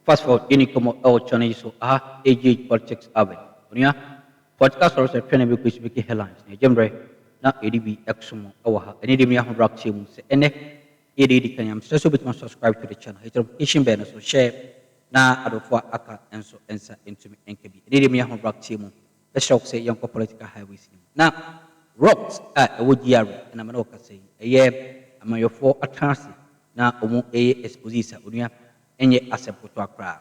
Fast forward yɛni nkɔmmɔ wɔ channel yi so aha AGH politics Abed onua Political asɔresɛ twɛn na ɛbɛkɔ yi so bɛkɛ headlines na ɛgye mmerɛ na yɛde bi ɛkso mo wɔ ha ɛnɛ deɛ me ahodoɔ ateɛ mu sɛ ɛnɛ yɛ deɛ ɛdi kan yi a mesrɛ sɛ wobɛtumi a subscribe to the channel hit the notification bell no so share na adɔfoɔ a aka nso nsa ntumi nka bi ɛnɛ deɛ me ahodoɔ ateɛ mu. Bɛhyɛ wo sɛ yɛnkɔ political highways no mu. Na Robt a ɛwɔ GRA na me ne wo kasa yi, ɛyɛ amanyɔfoɔ atenase na ɔmo ɛyɛ expose sa onua, ɛnyɛ asɛm kotoa koraa.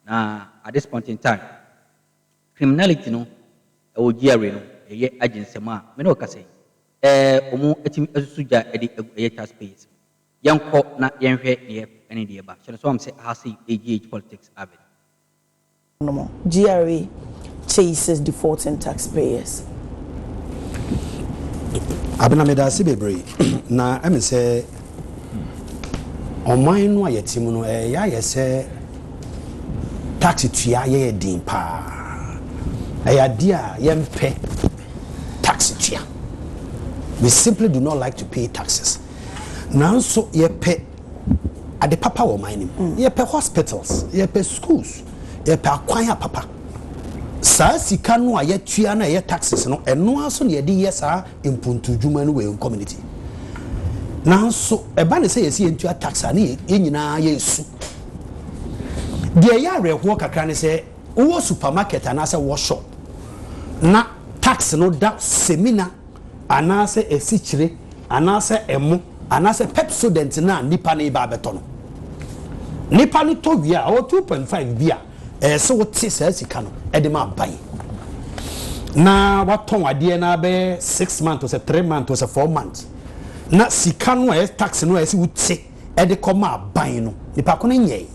Na at this point in time, criminality no ɛwɔ GRA no ɛyɛ agye nsɛm a me ne wo kasa yi, ɛɛ ɔmo atumi asusu gya ɛde agu ɛyɛ tax payers mu. Yɛnkɔ na yɛnhwɛ deɛ ɛne deɛ ɛba. Hyɛ no sɛ wahom sɛ aha sei ɛyɛ GH politics avid. nom. GRA chases defaulting taxpayers. Abena medase bebree na ɛme sɛ ɔman no a yɛte mu no ɛyɛ ayɛ sɛ tax tua yɛ yɛ den paa ɛyɛ adeɛ a yɛmpɛ tax tua we simply do not like to pay taxes nanso yɛpɛ ade papa wɔ ɔman no mu. Mm. Yɛpɛ hospitals, yɛpɛ schools, yɛpɛ akwan a papa. Saa sika no a yɛtua no a ɛyɛ taxes no, ɛno ara so na yɛde yɛ saa mpuntu dwuma no wɔ yɛn community. Nanso ɛba ne sɛ yɛsi yɛntua tax a ne yɛn nyinaa yɛresu. Deɛ ɛyɛ awerɛhoɔ kakra ne sɛ wowɔ supermarket anaasɛ wɔ shop na tax no da semina anaasɛ asikyire, anaasɛ ɛmo, anaasɛ Pepsodent no a nipa no reba abɛtɔ no. Nipa no tɔ wie a, ɔwɔ two point five bi a ɛyɛ sɛ wote saa sika no ɛde ma aban. Na watɔn adeɛ no abɛyɛ six months to sɛ three months to sɛ four months. Na sika no a ɛyɛ tax no a ɛyɛ sɛ wote ɛde kɔ ma aban no, nipa ko no nyɛe.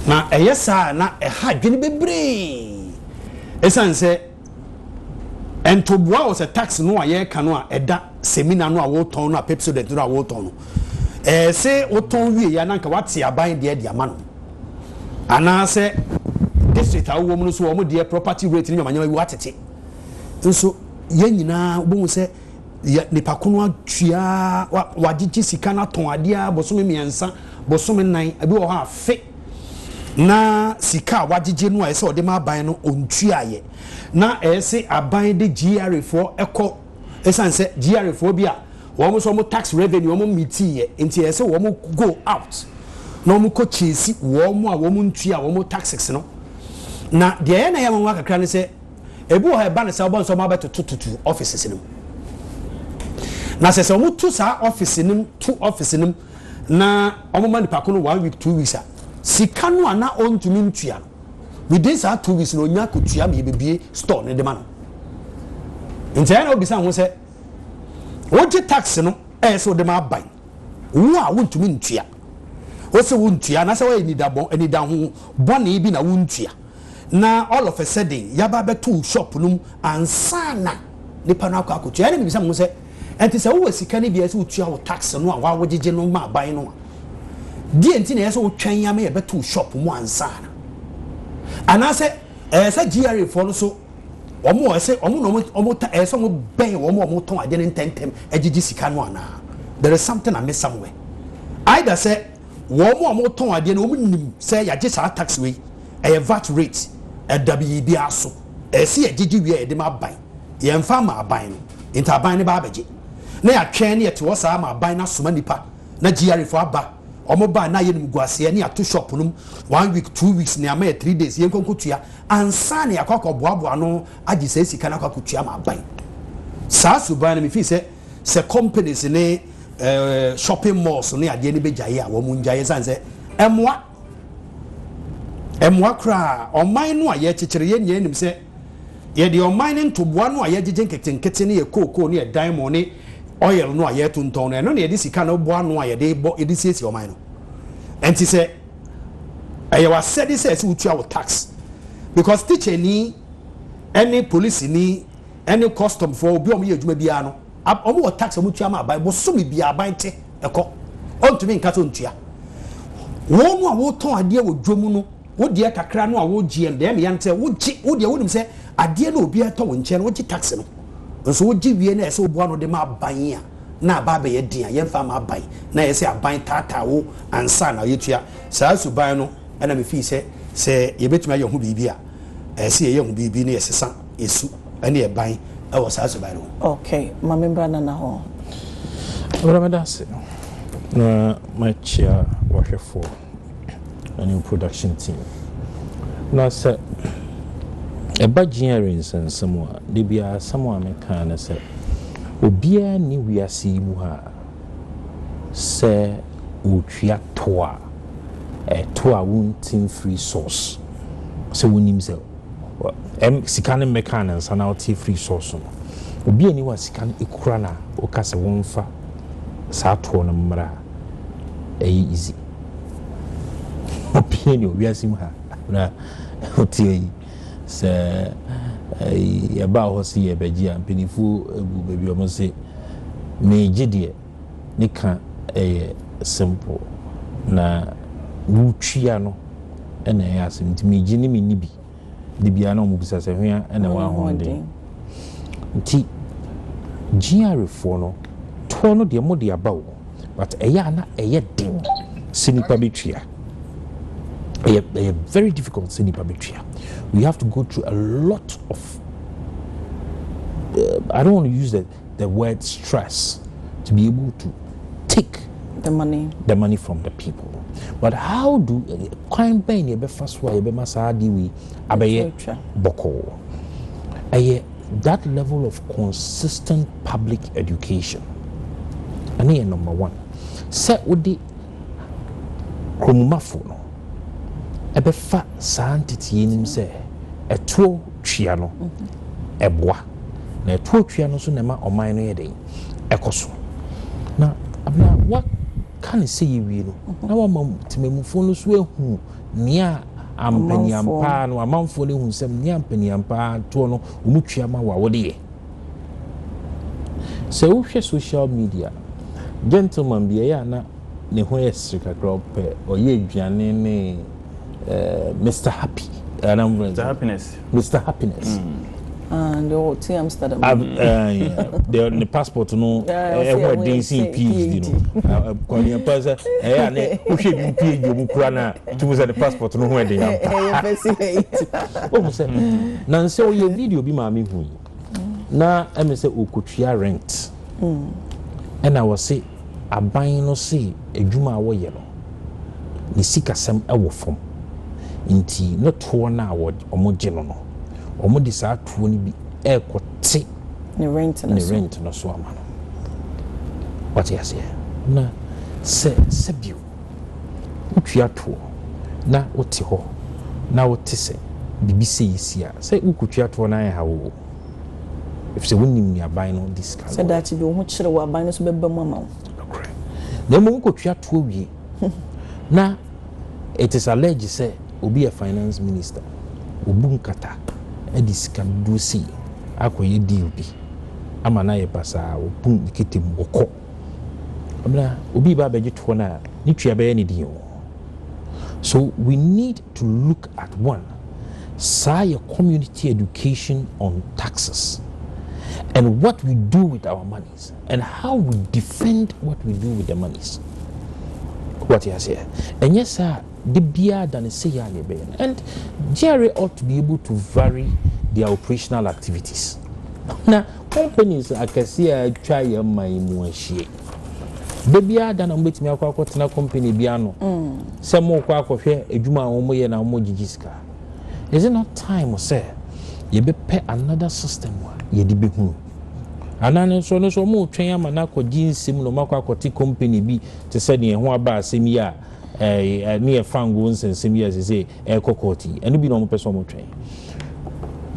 Na ɛyɛ saa a na ɛha adwene bebree. Ɛsan sɛ Ntoboa wɔ sɛ tax no a yɛreka no a ɛda semina no a wotɔn no a Pepsodent no a wotɔn no. Ɛɛ se wotɔn wie yɛ a na nka wate aban deɛ de ama no. Anaasɛ district a wowɔ mu no nso wɔn deɛ property rate ne nyamanyama bi watete. Nso yɛn nyinaa wobɛhu sɛ yɛ nipa ko no atua wagyegye sika no atɔn adeɛ a bosome mmiɛnsa bosome nan ebi wɔ hɔ afe. na sika a wagyegye no a ɛsɛ ɔde ma aban no ɔntuaeɛ na ɛsɛ aban de GRA foɔ kɔ ɛsiane sɛ GRA foɔ bi a wɔn nso wɔn tax revenue wɔn mitiiɛ nti ɛsɛ wɔn go out na wɔn kɔ kyesi wɔn a wɔn ntua wɔn taxes no na deɛ ɛyɛ na ɛyɛ nwanwa kakra ne sɛ ebi wɔ hɔ ɛba ne sɛ wɔbɔ nso wɔn abɛtotototo offices no mu na sɛ sɛ wɔn to saa office no mu to office no mu na wɔn ma nipa ko no one week two weeks a sika no a na ɔntumi ntua no within saa two weeks na onya ko tua ma yɛbɛbie store no de ma no nti ɛyɛ na wobisa ho sɛ wogye tax no ɛyɛ sɛ wode ma aban wo a wontumi ntua wosɛ wontua anaasɛ woayɛ nidabɔ anida ho bɔne bi na wontua na all of a sudden yaba bɛto shop no mu ansa na nipa no akɔ akɔtua ɛne mebisa mo sɛ Ɛnti sɛ wowɔ sika no bi a ɛsɛ wotua wo tax no a woawogyegye no ma aban no a, deɛ nti na ɛyɛ sɛ wotwɛn ama yɛbɛto wo shop mu ansa no? Anaasɛ ɛyɛ sɛ GRA foɔ no so wɔn a ɛsɛ wɔn na wɔn wɔn ta ɛyɛ sɛ wɔn bɛn wɔn a wɔtɔn adeɛ no ntɛntɛm agyegye sika no anaa? There is something amiss somewhere. Either sɛ wɔn a wɔtɔn adeɛ no wɔn nim sɛ yɛagye saa tax wei ɛyɛ vat rate ɛda biribiara so ɛyɛ sɛ yɛgyegye wie a yɛde ma aban. Yɛmfa mma aban no nti aban no bɛa bɛgye na yɛatwɛn na yɛte hɔ saa ma aban no asoma nnipa na GRA foɔ aba wɔn baa na ayɛ nimguaseɛ na yɛato shop no mu one week two weeks na yɛama yɛ three days yɛnkɔ nkɔtua ansa na yɛakɔ akɔ boaboa ano agye saa sika no akɔ akɔtua ma aban saa suban no mefii sɛ sɛ companies ne eh, shopping malls ne adeɛ no bɛgyaeɛ a wɔn ngyaeɛ sane sɛ ɛmmoa ɛmmoa koraa ɔman no a yɛkyekyere yɛn nyinaa nim sɛ Yɛde ɔman no ntoboa no a yɛagyegye nketenkete ne yɛn kookoo ne yɛn diamond ne oil no a yɛretontɔn no, ɛno na yɛde sika no bɔ ano a yɛde bɔ, yɛde siesie ɔman no. Ɛnti sɛ ɛyɛ w'asɛde sɛ ɛsɛ wotua wo tax because teacher ni ɛne police ni ɛne custom foɔ obi a wɔyɛ adwuma biara no wɔn wɔ tax a wɔn tua ma aban bosome biara aban te ɛkɔ ɔntumi nka sɛ ɔntua wɔn a wɔtɔn adeɛ wɔ dwom no Wo deɛ kakra no a wogyeɛ no, dɛm yɛ no sɛ wogye, wo deɛ wonim sɛ adeɛ no a obiara tɔ wo nkyɛn no wogye tax no, nso wogye wie no a ɛyɛ sɛ woboa ano de ma aban a na aba abɛyɛ den a yɛmfa mma aban, na ɛyɛ sɛ aban taataa wo ansa na yɛtua. Saa suban no na mefii sɛ sɛ yɛbɛtumi ayɛ ho biribi a, ɛyɛ sɛ yɛyɛ ho biribi na yɛsesa yɛn su ne yɛn ban wɔ saa suban no ho. Ok, ma membra Nana hɔ. Bra meda ase. Na makyia w'ahwɛfoɔ ɛne production team. Na sɛ ɛba Jeary nsɛnsɛm mu a, da biara asɛm a meka ara ne sɛ, obiara nni wiase yi mu ha a, sɛ ɔretua tow a, ɛyɛ tow a wonte mfiri source, sɛ wonim sɛ sika no mmɛkaa no ansa na wote afiri source no. Obiara nni hɔ a sika no kura no a, woka sɛ wɔmfa saa tow no mmra a, ɛyɛ easy obiaa ni wɔ wiase mu ha na ɔte ayi sɛ yɛbaa hɔ se yɛbɛgye a mpanifoɔ agu baabi ɔmo se meegye deɛ ne ka ɛyɛ simple na wotwia no ɛna ɛyɛ asem nti megye ne menni bi. de biara na wɔn bisa sɛ hwea na ɛwɔ ahoɔden nti GRA foɔ no toɔ no deɛ mo de aba o but ɛyɛ a na ɛyɛ den sɛ nipa bɛ tua ɛyɛ ɛyɛ very difficult sɛ nipa bɛ tua we have to go through a lot of uh, I don't want to use the The word stress to be able to take the money the money from the people but how do kwan bɛn na yɛbɛfa so a yɛbɛma saa adeɛ wei abɛyɛ bɔkɔɔ ɛyɛ that level of consistent public education ɛne yɛ number one sɛ wode Kuromumafo no bɛfa saa ntetee no mu sɛ ɛtoɔ tua no boa, na ɛtoɔ tua no nso na ɛma ɔman no yɛ dɛn? Ɛkɔ so. Na bere a wɔaka ne sei awie no, na wɔama temammufoɔ no nso ahu nea ampaniampaa no, amanfoɔ no ahu sɛ nea ampaniampaa toɔ no wɔtua ma wo a, wode yɛ. Sɛ wohwɛ social media, gentleman bi ɛyɛ a na ne ho yɛ sere kakra, ɔpɛ ɔyɛ aduane ne eh, Mr Happy, ɛna mo Mr Happiness, Mr Happiness. Mm. Ah, deɛ ɔte Amsterdam. Ah, eh, deɛ ne passport no ɛho ɛden sen PhD no. Kɔnyɛ pa sɛ ɛyɛ a ne wohwɛ bi PhD ɔmu kura no a nti mo sɛ ne passport no ho ɛde yam pa wohu sɛ na nsɛ ɔyɛ video bi maame hu yi na ɛme sɛ ɔkɔtua rent ɛna wɔse aban no se adwuma a wɔyɛ no ne sikasɛm ɛwɔ fam nti ne toɔ no a wɔgye no no wɔde saa toɔ no bi ɛkɔte ne rent no so ama no wate aseɛ na sɛ sɛ bio Wotwa toɔ na wote hɔ na wote sɛ biribi sei asi a, sɛ wokɔtwa toɔ no anha wo o, ɛfiri sɛ wonnim deɛ aban no de sika no yɛ. Sɛ daakye bi wo ho kyere wo a, aban no nso bɛba mu ama wo. Nokorɛ. Na mmom wokɔtwa toɔ wie na it is alleged sɛ obi yɛ finance minister, ɔbu nkata de sika dodoɔ sei akɔyɛ deal bi ama no ayɛ pasaa, ɔbu ne kete mu, ɔkɔ. Amina, obi reba abɛgye toɔ no a, ne tua bɛyɛ ne den o. So we need to look at one, saa yɛ community education on taxes and what we do with our monies and how we defend what we do with the monies. Wate aseɛ? Ɛnyɛ saa de biara da ne sɛ yɛ a na ɛbɛyɛ no. And GRA ought to be able to vary their operational activities. Na Companies akɛseɛ a atwa yɛn man yi mu ahyia yi, da biara da na mobɛtumi akɔ akɔtena company bi ano sɛ morekɔ akɔhwɛ adwuma a wɔyɛ na wɔgyegye sika. Is it not time sɛ yɛbɛpɛ another system a yɛde bɛhunu? Anaa no nso, ɔno nso wɔretwɛn ama no akɔgye nsam na wɔakɔ akɔte company bi te sɛ deɛ ɛho aba asɛm yi a ne yɛ fangoo nsɛnsɛm yi a seesei ɛrekɔ court yi ɛno bi na wɔpɛ sɛ wɔtwɛn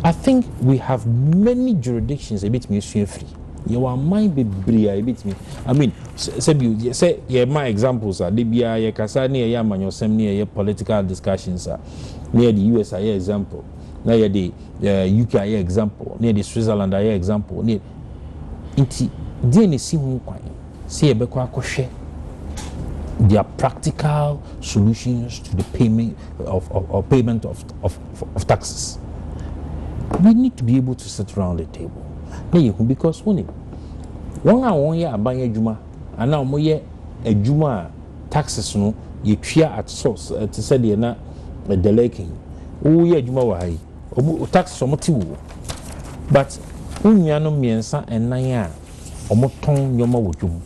I think we have many jurisdictions a yɛbɛtumi asua afiri yɛwɔ aman bebree a yɛbɛtumi I mean sɛ bi sɛ yɛma examples a da biara yɛkasa ne yɛyɛ amanyɔsɛm ne yɛyɛ political discussions a na yɛde US ayɛ example na yɛde eh, UK ayɛ example na yɛde Switzerland ayɛ example ne nti deɛ na ɛsi ho kwan Sɛ yɛbɛkɔ akɔhwɛ their practical solutions to the payment of, of, of payment of, of, of taxes. We need to be able to sit around the table. Na yɛhu because wone wɔn a wɔyɛ aban adwuma anaa wɔyɛ adwuma a taxes no yɛtua at source eh, te sɛ deɛ na eh, deleke yi woyɛ adwuma wɔ ha yi taxes wɔn te wo but wo nuanom mmiɛnsa ɛnan a wɔtɔn nneɛma wɔ dwom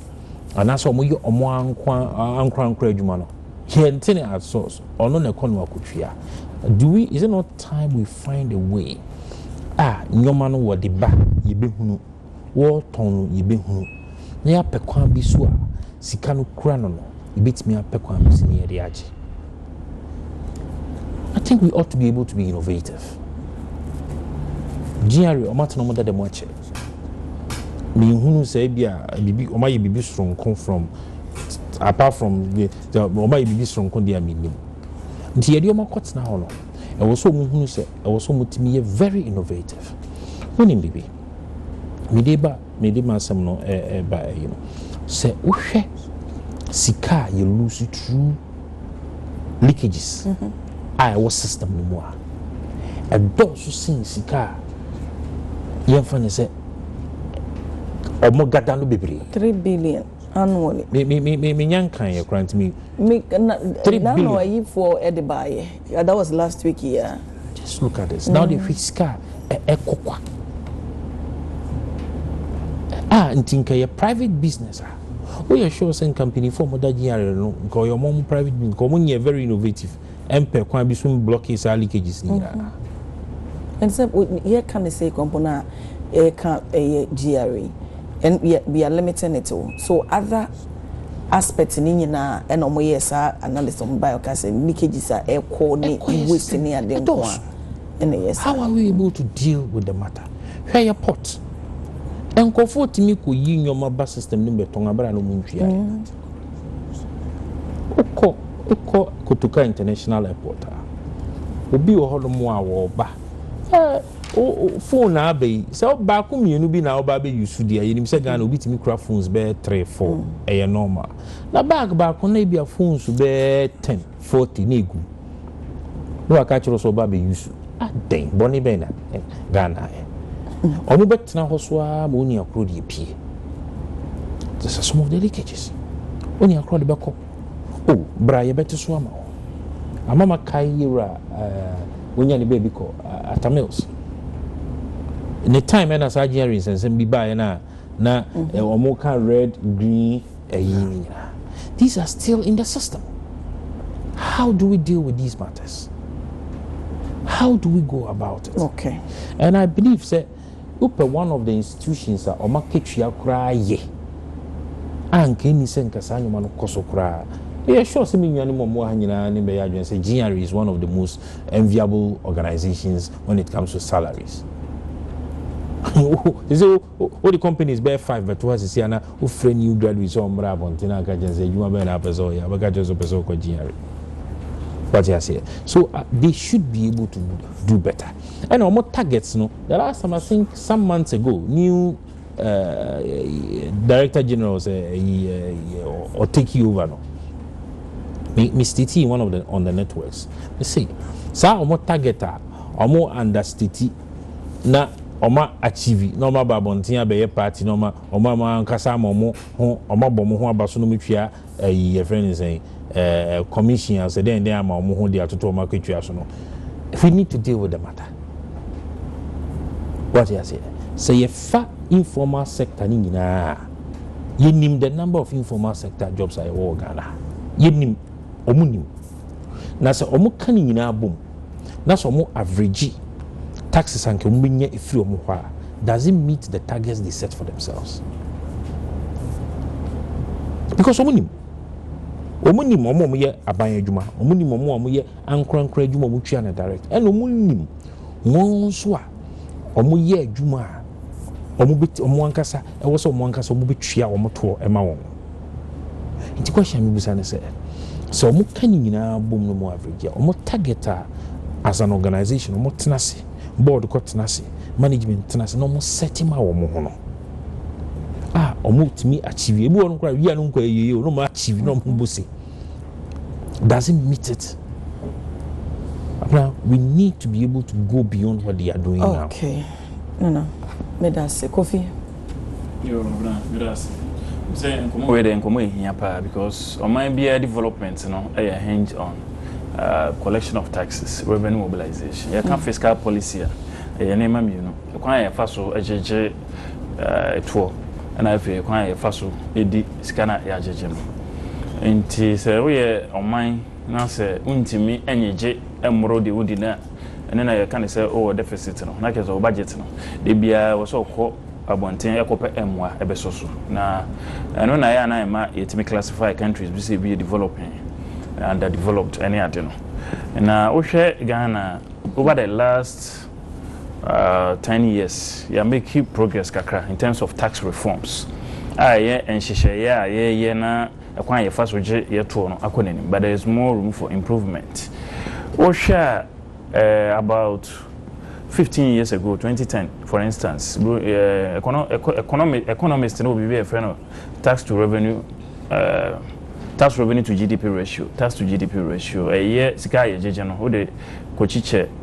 anaasɛ wɔyɛ wɔn ankoa ankorankora adwuma no yɛnte ne aso ɔno na ɛkɔ no akɔtua do we is it not time we find a way a nneɛma no wɔde ba yɛbɛhunu wɔtɔn no yɛbɛhunu na yɛapɛ kwan bi so a sika no kura no no yɛbɛtumi apɛ kwan mu sini yɛde agye. I think we ought to be able to be innovative. GRA wɔn atena wɔn dada mu akyɛ. Mehunu sɛ ebi a bibi wɔn ayɛ bibi soronko from apart from the wɔn ayɛ bibi soronko deɛ a menim. Nti yɛde wɔn akɔtena hɔ no ɛwɔ sɛ wɔn hunu sɛ ɛwɔ sɛ wɔn tumi yɛ very innovative. Wɔnim bibi. Mede ba Mede m'asɛm no reba ayi no, sɛ wohwɛ sika a yɛ lose through leakages a ɛwɔ system no mu a, ɛdɔɔso sen sika a yɛmfa ne sɛ ɔmo gada no bebree. Three billion annually. Me me me me menya nkan yɛ koraa ntumi. Me na three billion. Nano ayifoɔ ɛde baayɛ. Yeah that was last week yeah. Just look at this na wode hwɛ sika a ɛkɔ kwa a nti nka yɛ private business a woyɛ sure sɛ nka mpanimfoɔ a wɔda GRA no nka ɔyɛ wɔn private business nka wɔn nyɛ very innovative ɛmpɛ kwan bi so mblock saa leakages no nyinaa. Mm-hmm. And so yɛ ka ne sɛ kɔmpo no a ɛka ɛyɛ GRA and we are limiting it so other aspect no nyinaa ɛna ɔmo yɛɛ saa analysis ɔmo bae ɔkaa sɛ leakages a ɛkɔ ne waste ne ade nko a ɛna ɛyɛ saa. How are we able to deal with the matter? Hwɛ yɛ port nkorɔfoɔ tumi kɔ yi nnoɔma ba system no mu bɛtɔn aberɛ a na ɔmo ntwiaɛ wokɔ wokɔ kotoka international airport a obi wɔ hɔ nom a wɔɔba sɛ wo phone na aba yi sɛ baako mmienu bi na ɔba abɛ use deɛ yɛnim sɛ Ghana obi tumi kura phones bɛyɛ three four mm. ɛyɛ normal na bag baako na ebi a phones bɛyɛ ten forty na egu na waka kyerɛ sɛ ɔba abɛ use adɛn bɔne bɛn na eh, Ghana ayɛ wɔn mm. bɛtena hɔ so ara ma onua koro deɛ pie just a small delicacies onua koro de bɛkɔ. O, bra yɛbɛte so ama wo. Ama makae yewura eh, wonya ne baabi kɔ eh, Atta Mills. Ne time ɛna saa Jeanry nsɛnsɛm bi baeɛ no a na mhm. eh, wɔn ka red green ɛyi eh, nyinaa. These are still in the system. How do we deal with these matters? How do we go about it? Okay. And I believe that Wopɛ one of the institutions a wɔn akatua koraa yɛ a nka enni sɛ nka saa nneɛma no kɔ so koraa a, meyɛ sure sɛ me nuanom a wɔwɔ ha nyinaa ne bɛyɛ adwene sɛ GRE is one of the most enviable organisations when it comes to salaries. Sɛ sɛ wode companies bɛyɛ five bɛto ha sisi ana wofrɛ new graduate sɛ ɔmmra abɔnten na aka kyɛn sɛ adwuma bɛyɛ na apɛ sɛ ɔyɛ abɛka kyɛn sɛ ɔpɛ sɛ ɔkɔ GRE. Wate aseɛ? So uh, they should be able to do that. do better ɛna ɔmo targets no the last time I think some months ago new director general sɛ ɛyi ɔ take over no me me stating one of the on the networks me say saa ɔmo target a ɔmo understating na ɔma achieve na ɔma ba abɔnten abɛyɛ party na ɔma ɔma ɔmo ankasa ama ɔmo ho ɔma bɔ ɔmo ho aba so na ɔmo twia ɛyi yɛfrɛ no sɛn ɛɛ commission a sɛ dɛn dɛn ama wɔn ho de atoto wɔn akatua so no we need to deal with the matter wɔte aseɛ sɛ yɛfa informal sector no nyinaa a yɛnim the number of informal sector jobs a yɛwɔ wɔ ghana yɛnim wɔn nim na sɛ wɔn ka ne nyinaa bom na sɛ ɔmo average taxes a nka ɔmo bɛnya ɛfiri ɔmo hɔ a does it meet the targets they set for themselves because ɔmo nim ɔmo nim ɔmo ɔmo yɛ aban adwuma ɔmo nim ɔmo ɔmo yɛ ankorankora adwuma ɔmo tua no direct ɛna ɔmo nim wɔn nso a ɔmo yɛ adwuma a ɔmo bɛ ɔmo ankasa Ɛwɔ sɛ wɔn ankasa wɔbɛtua wɔn toɔ ma wɔn. Nti question a mebisa ne sɛ, sɛ wɔka ne nyinaa bom no mu average a, wɔn target a as an organisation wɔtena ase, board kɔ tena ase, management tena ase na wɔn set ma wɔn ho no a wɔtumi achieve. Ebi wɔ no koraa wia no nkɔ ayie o, na wɔn achieve na wɔn bo se. Does it meet it? Now we need to be able to go beyond what they are doing now. Okay. Nana medase Kofi. Yoo Nana medase sɛ nkɔmɔ wei deɛ nkɔmɔ ɛhia paa because ɔman biara development no ɛyɛ hinge on uh, collection of taxes revenue mobilization yɛka mm. fiscal policy a ɛyɛ nneɛma mmienu kwan a yɛfa so gyegye ɛtoɔ uh, ɛna afei kwan a yɛfa so ɛdi sika no a yɛagyegye no nti sɛ woyɛ ɔman na sɛ wontumi nyegye mmoro deɛ wodi no a ɛno na yɛka no sɛ wowɔ deficit no, na kyerɛ sɛ wo budget no, da biara ɛwɔ sɛ ɔkɔ abɔnten ɛkɔpɛ mmoa ɛbɛsɔ so. Na ɛno na ɛyɛ a na ɛma yɛtumi classify countries bi sɛ ebi yɛ developing, underdeveloped ɛne ade no. Na wohwɛ Ghana a, over the last ten years, yɛ make progress kakra in terms of tax reforms a ɛyɛ nhyehyɛeɛ a yɛyɛ na Ɛkwan a yɛfa so gye yɛn toɔ no akɔ n'anim but there is more room for improvement. Wohwɛ a eh, about fifteen years ago, twenty ten for instance, bro, eh, econo, eco, economi, economist no wɔ biribi a yɛfrɛ no tax to revenue eh, tax revenue to GDP ratio, tax to GDP ratio, ɛyɛ sika a yɛgyegye no, wode kɔkyikyɛ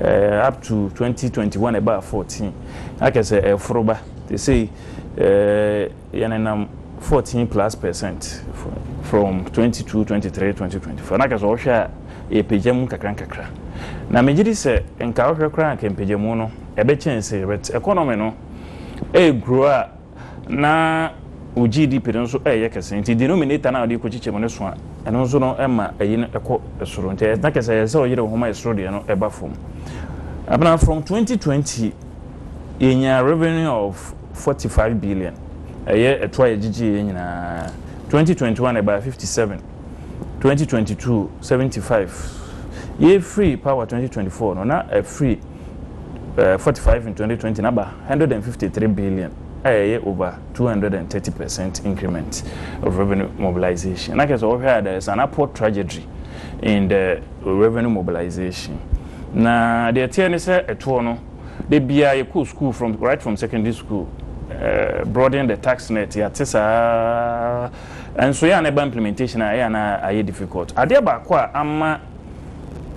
ɛɛ up to twenty twenty one ɛbaa fourteen na kyerɛ sɛ ɛɛforo ba te sei ɛɛ yɛn nenam fourteen plus percent from twenty two twenty three twenty twenty four na kyerɛ sɛ ɔhwɛ a ɛɛpagya mu kakra nkakra na megye di sɛ nka ɔhwɛ koraa nka mpagyamu no ɛbɛkyɛn sei but economy no ɛɛgrow a. na wo GDP no nso reyɛ kɛse nti denominator no a wode rekɔkyekyɛ mu no so a, ɛno nso no ma ayi no kɔ soro. Nti ɛyɛ na kyerɛ sɛ ɛyɛ sɛ ɔyere wo ho ma ɛsoro deɛ no ɛba fam. Abena from 2020 yɛnyaa revenue of 45 billion ɛyɛ ɛtoɔ a yɛgyegyeeɛ nyinaa 2021 ɛbaa 57. 2022 seventy five yei firi power twenty twenty four no na ɛfiri ɛɛ forty five in twenty twenty na ba hundred and fifty three billion a ɛyɛ over two hundred and thirty percent increment of revenue mobilization na kɛse ɔhwɛ a there is an upward trajectory in the revenue mobilization na deɛ ɛteɛ ne sɛ ɛtoɔ no de biara yɛ kɔ school from right from secondary school ɛɛ broaden the tax net yɛate saa. Nso yɛ a na ɛba implementation a ɛyɛ a na ayɛ difficult. Adeɛ baako a ama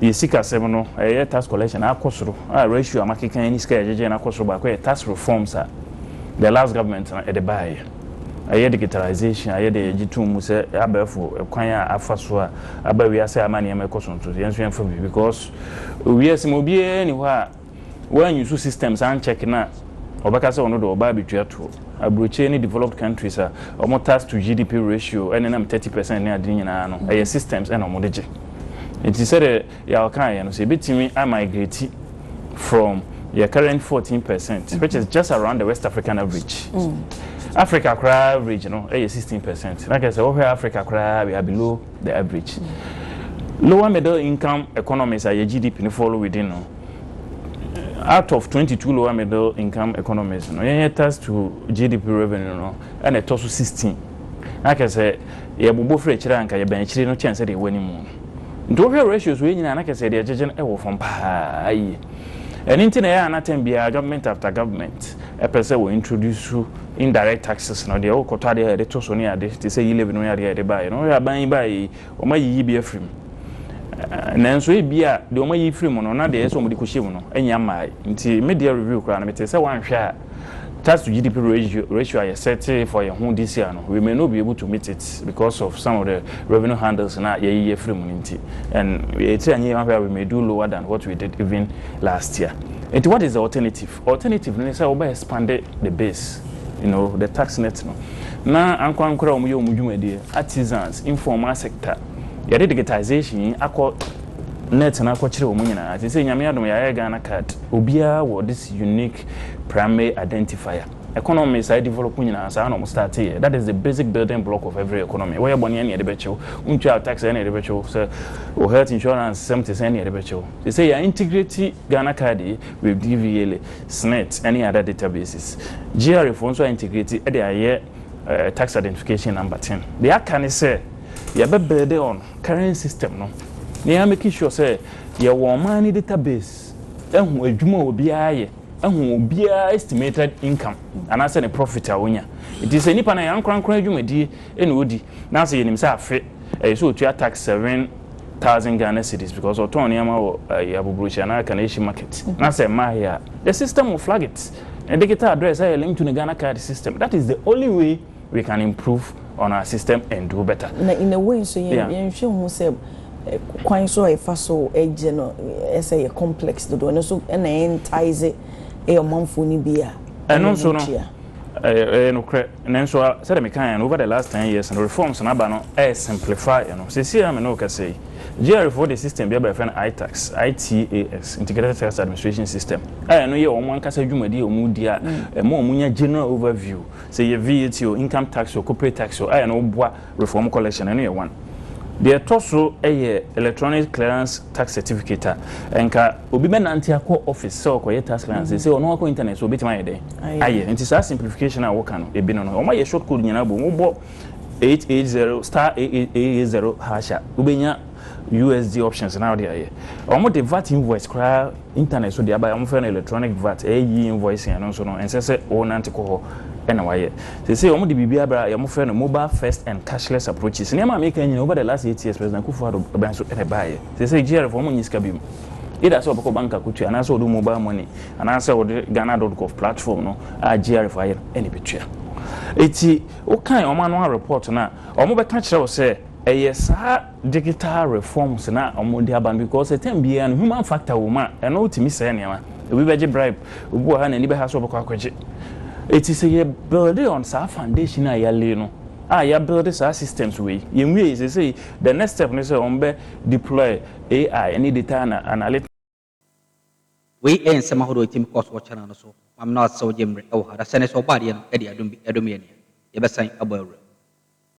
yɛ sikasɛm no ɛyɛ tax collection no akɔ soro a ratio a makeka yi ne sika a yɛgyegyeɛ no akɔ soro baako yɛ tax reforms a the last government no ɛde baeɛ. Ɛyɛ digitalization a yɛde yɛgye tom mu sɛ abɛɛfo kwan a afa so a aba wiase a ama nneɛma ɛkɔ so nso yɛn nso yɛmfa bi because wiase mu obiara nni hɔ a wan use systems an check no a ɔbɛka sɛ ɔno de ɔba abɛtua toɔ. Aburokyire ne developed countries a wɔn tax to GDP ratio ɛne nam thirty percent ne ade no nyinaa no ɛyɛ systems ɛna wɔn de gye. Nti sɛdeɛ Yaw kaeɛ no sɛ yɛbɛtumi a migrate from yɛ current fourteen percent which is just around the West African average. Africa koraa average no ɛyɛ sixteen percent. Na kɛ sɛ wohwɛ Africa koraa we are below the average. Lower middle income economies a yɛ GDP no fall within no. Out of twenty two lower middle income economies no, yɛnyɛ tax to GDP revenue no na ɛtɔ so sixteen. Na kyerɛ sɛ yɛbobɔ firi akyire a anka yɛbɛn akyire no kyɛn sɛdeɛ ɛwɔ anim no. Nti wohwɛ ratios wei nyinaa na kyerɛ sɛ yɛde agyegye no wɔ fam paa yie. Ɛno nti na ɛyɛ a na term biara government after government pɛ sɛ wɔ introduce indirect taxes no deɛ wokɔtɔ adeɛ a yɛde to so ne ade te sɛ yi levy no ne adeɛ a yɛde baeɛ no. Wohwɛ aban yi baeɛ yi Wɔayiyi bi afiri mu. Nanso ebia deɛ wɔayiyi firi mu no, na deɛ ɛyɛ sɛ wɔde kɔhyɛ mu no nnya mmaeɛ. Nti me deɛ review koraa no, metee sɛ woanhwɛ a, tax to GDP ratio a yɛsɛte for yɛn ho this year no, we may not be able to meet it because of some of the revenue handles no a yɛayiyi afiri mu no nti. And ɛtiri anyɛ yie, woanhwɛ a, we may do lower than what we did even last year. Nti what is the alternative? Alternative no ne sɛ wobɛ expand the base, you know, the tax net no na ankorankor a wɔyɛ wɔn dwumadie, artisans, informal sector, yɛde digitisation yi akɔ net no akɔkyere wɔn nyinaa. Seesei Nyame adom yɛayɛ Ghana card, obiara wɔ this unique primary identifier. Economy saa develop nyinaa saa na wɔn start yɛ, that is the basic building block of every economy. Woyɛ bɔne ɛne yɛde bɛkye wo, wontua tax ɛne yɛde bɛkye wo, sɛ wo health insurance sɛm te sɛn ɛne yɛde bɛkye wo. Seesei yɛa integrate. Ghana card yi with DVLA, SSNIT ne other databases. GRA foɔ nso a integrate de ayɛ tax identification number tin. Deɛ aka ne sɛ yɛbɛ build on current system no na yɛn make sure sɛ yɛwɔ ɔman no database ahu adwuma a obiara yɛ, ahu obiara estimated income anaasɛ ne profit a ɔnya. Nti sɛ nipa no ɛyɛ ankorankora adwumadie na ɔdi na sɛ yɛnim sɛ afe ɛyɛ sɛ ɔtua tax seven, thousand Ghana cedis because ɔtɔn nneɛma wɔ ɛyi abuburukyia na aka na ehyɛ market na sɛ mmaa yɛ a the system will flag it ne digital address ayɛ link to ne Ghana card system that is the only way we can improve on our system and do better. na in a way nso yɛn yɛn hwɛ hu sɛ kwan so a yɛfa so gye no ɛsɛ yɛ complex dodo ɛno nso ɛna ɛntaise ɛyɛ ɔmanfoɔ no bi a ɛno nso no ɛyɛ nokorɛ. Nanso sɛdeɛ mekaeɛ no, over the last ten years no, reforms no aba no resimplify ɛno. Seesei a me ne wo kasa yi, GRA foɔ de system bi aba a yɛfrɛ no ITAX, ITAX, Integrated Tax Administration System, a ɛno yɛ wɔn ankasa dwumadie a wɔdi a ɛma wɔnya general overview, sɛ ɛyɛ VAT o, income tax o, corporate tax o, a ɛno boa Reform Collection, ɛno yɛ one. Deɛ ɛtɔ so yɛ Electronic Clearance Tax Certificate a, ɛnka obi bɛnante akɔ office sɛ ɔrekɔyɛ tax clearance, seesei ɔno akɔ internet so ɔbɛtumi ayɛ dɛn? Ayɛ. Nti saa simplification a woka no, ebi no no, wɔayɛ short code nyinaa bom, wobɔ eight eight zero, star eight eight zero hash a, wobɛnya USD options na wɔde ayɛ. Wɔde VAT invoice koraa internet so de aba a wɔfrɛ no electronic VAT, ɛyɛ e-invoicing ɛno nso no ɛnsɛ sɛ wonante kɔ hɔ na wayɛ. Seesei wɔde biribi aba a wɔfrɛ no mobile first and cashless approaches. Nneɛma a meka nyinaa over the last eight years President Kufuor bɛn so na ɛbaeɛ. Seesei GRF wɔn nnye sika biom. Either sɛ wɔbɛkɔ bank akɔtua anaasɛ wɔde wo mobile money anaasɛ wɔde Ghana dot gov platform no a GRF ayɛ no na ɛbɛtua. Enti wokan wɔn annual report no a wɔbɛka kyerɛ wo sɛ Ɛyɛ saa digital reforms no a wɔde aba no because ɛtam biara no human factor wɔ mu a ɛno tumi sɛe nneɛma. Obi bɛgye bribe, obi wɔ ha a n'ani bɛha sɛ ɔbɛkɔ akɔgye. Enti sɛ yɛ build on saa foundation a yɛ lay no a yɛ build saa systems wei, yɛ nwiei, seesei the next step ne sɛ wɔn bɛ deploy AI ne data analytics. Wei yɛ nsɛm ahorow a ɛtumi kɔ so wɔ channel no so. Maame no asew gye mmerɛ wɔ ha na sɛnea ɛsɛ ɔbɔ adeɛ no de adom bi adom yɛn nea yɛbɛsan abɔ awura mu.